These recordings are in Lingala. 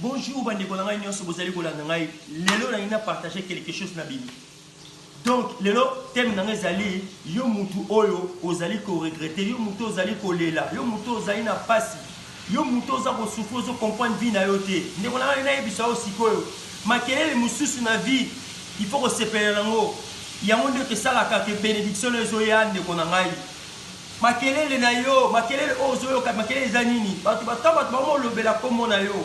Bonjour ba ndeko na ngai nionso bozali kolanda ngai lelo nalingi na partager quelque chose na bino donc lelo thème na ngai ezali yo mutu oyo ozali ko regretter yo mutu ozali kolela yo mutu ozali na pasi yo mutu oza kosufri ozo comprendre vie na yo te ndeko na ngai nayebisa yo sikoyo makelele mosusu na vie il faut kosepela nango yango nde esalaka ke benediction na yo ezoya ndeko na ngai Makelele na yo, makelele oyo ozoyoka, makelele eza nini? Bato ba, tango bato bango bolobela kombo na yo,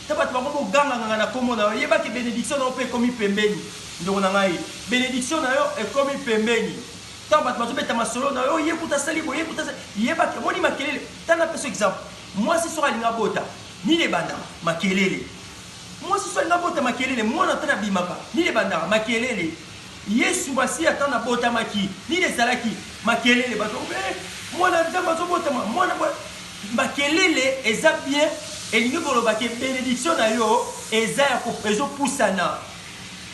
tango bato bango boganganganga na kombo na yo, yeba ke benediction na yo pe ekomi pembeni, ndeko na ngai. Benediction na yo ekomi pembeni. Tango bato bazobeta masolo na yo, oh, ye kutu asali boye, ye kutu asali, yeba ke, omoni makelele? Tala napesa yo exemple, mwasi soki alingi abota, nini ebandaka? Makelele. Mwasi oso alingi abota makelele mwana ata nabimaka nini ebandaka makelele yesu masiya ata nabotamaki nini ezalaki makelele bato bakomi eh mwana ya nzambe azobotama mwana boye makelele eza bien elingi koloba ke benediction na yo eza ya ezopusana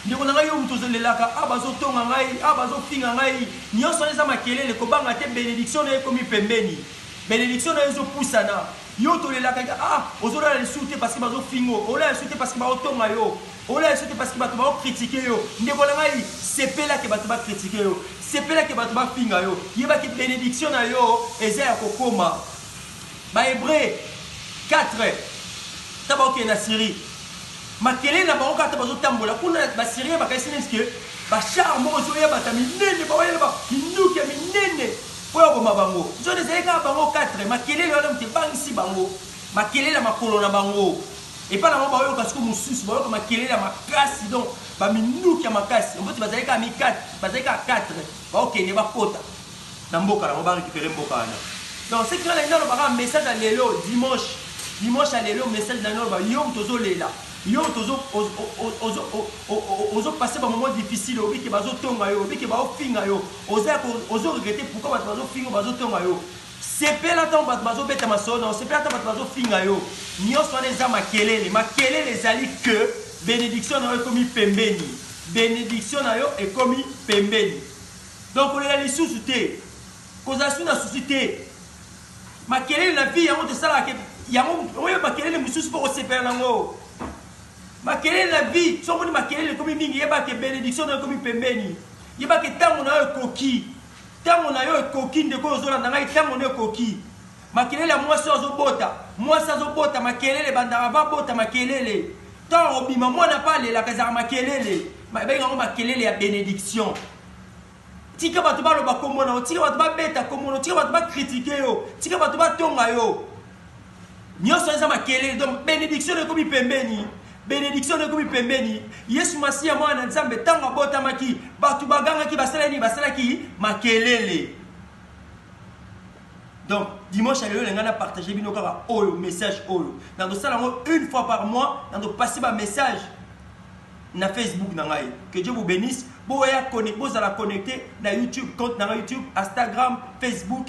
ndeko na ngai yo moto ozolelaka a ah, bazotonga ngai a ah, bazofinga ngai nyonso wana eza makelele kobanga te benediction na yo ekomi pembeni benediction na yo ezopusana Yo tolelaka ke ah ozo lala lisusu te parce que bazo finga yo, olala lisusu te parce que bao tonga yo, olala lisusu te parce que batu bao critiquer yo. Ndeko na ngai sepela ke batu ba critiquer yo, sepela ke batu ba finga yo, yeba ke benediction na yo eza ya ko koma. Ba Hebreux quatre tango bao kende na Syrie, makelele na bango kaka tango bazo tambola kuna, ba Syriens ba kanisi neti ke ba chars moko ezo ya batu ya minene, bao ya na ba minduki ya minene, Mpo ya koboma bango. Nzoto ezali kaka bango quatre. Makelele wana moto ebangisi bango. Makelele ya makolo na bango. Epai na bango baoyoka sikoyo mosusu. Bayoka makelele ya makasi. Donc, ba minduki ya makasi. Mpo ete bazali kaka mikate. Bazali kaka quatre. Baokende bakota na mboka na bango. Ba recuperer mboka wana. Donc, ce qui fait, nalingi naloba kaka message ya lelo, dimanche. Dimanche ya lelo, message nalingi naloba, yo moto ozolela. Yo moto ozo, ozo, ozo, ozo, ozo passer ba moments difficiles. Oyebi que bazotonga yo. Oyebi que baofinga yo. Oza ya ko ozo regrette pourquoi batu bazo finga yo bazo tonga yo sepela tango batu bazo beta masolo na yo sepela tango batu bazo finga yo nionso wana eza makelele makelele ezali que benediction na yo ekomi pembeni benediction na yo ekomi pembeni donc kolela lisusu te kozala su na susi te makelele na vie yango tosalaka ke yango oyo makelele mosusu mpo kosepela na yango makelele na vie soki omoni makelele ekomi mingi yebaka ke benediction na yo ekomi pembeni Yeba ke tango na yo ekoki. Tango na yo ekoki ndeko oyo ozolanda ngai tango no ekoki. Makelele ya mwasi oyo azobota. Mwasi azobota makelele ebandaka avant abota makelele. Tango akobima mwana pe alelaka ezalaka makelele. Babengi yango makelele ya benediction. Tika bato baloba kombo na yo, tika bato babeta kombo na yo, tika bato ba critiquer yo, tika bato batonga yo. Nyoso eza makelele donc benediction ekomi pembeni. Benediction ekomi pembeni. Yesu Masiya mwana na Nzambe tango abotamaki, bato bagangaki basala nini? Basalaki makelele. Donc dimanche ya lelo na ngai na partager bino kaka oyo message oyo. Na kosala ngo une fois par mois, na ko passer ba message na Facebook na ngai. Que Dieu vous bénisse. Boya connecter, bozala connecter na YouTube, compte na ngai YouTube, Instagram, Facebook,